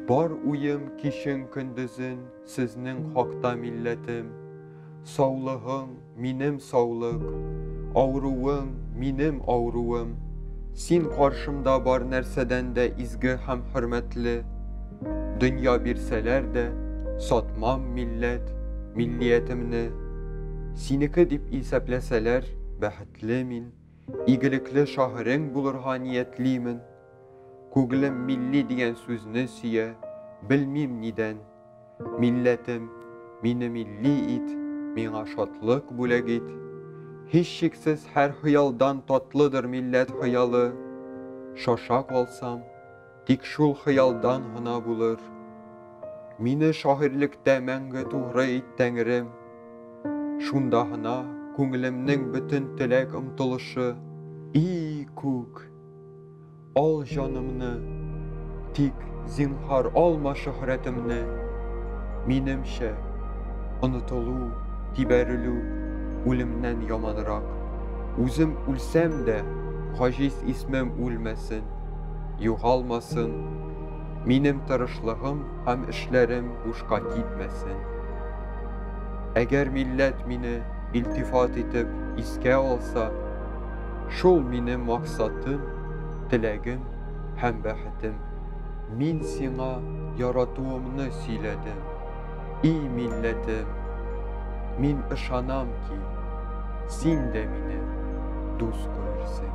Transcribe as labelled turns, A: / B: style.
A: Бар уем кишен көндезен сезнең хакта милләтем. Саулыгың минем саулык, авыруың минем авыруым. Син каршымда бар нәрсәдән дә изге һәм хөрмәтле. Дөнья бирсәләр дә, сатмам милләт, миллиятемне. Синеке дип исәпләсәләр, бәхетле мин, игелекле шагыйрең булырга ниятлимен. Күглем милли дигән сүзне сөя, белмим нидән. Милләтем, мине милли ит, миңа шатлык бүләк ит. Һич шиксез һәр хыялдан татлыдыр милләт хыялы. Шаша калсам, Тик шул хыялдан гына булыр. Мине шагыйрьлектә мәңге тугры ит, Тәңрем. Шунда гына күңелемнең бөтен теләк-омтылышы. И күк, ал җанымны, тик, зинһар, алма шөһрәтемне. Минемчә, онытылу, тибәрелү үлемнән яманрак. Үзем үлсәм дә, гаҗиз исмем үлмәсен. югалмасын, минем тырышлыгым һәм эшләрем бушка китмәсен. Әгәр милләт мине илтифат итеп искә алса, шул минем максатым, теләгем һәм бәхетем. Мин сиңа яратуымны сөйләдем. И милләтем, мин ышанам ки, син дә мине дус күрерсең.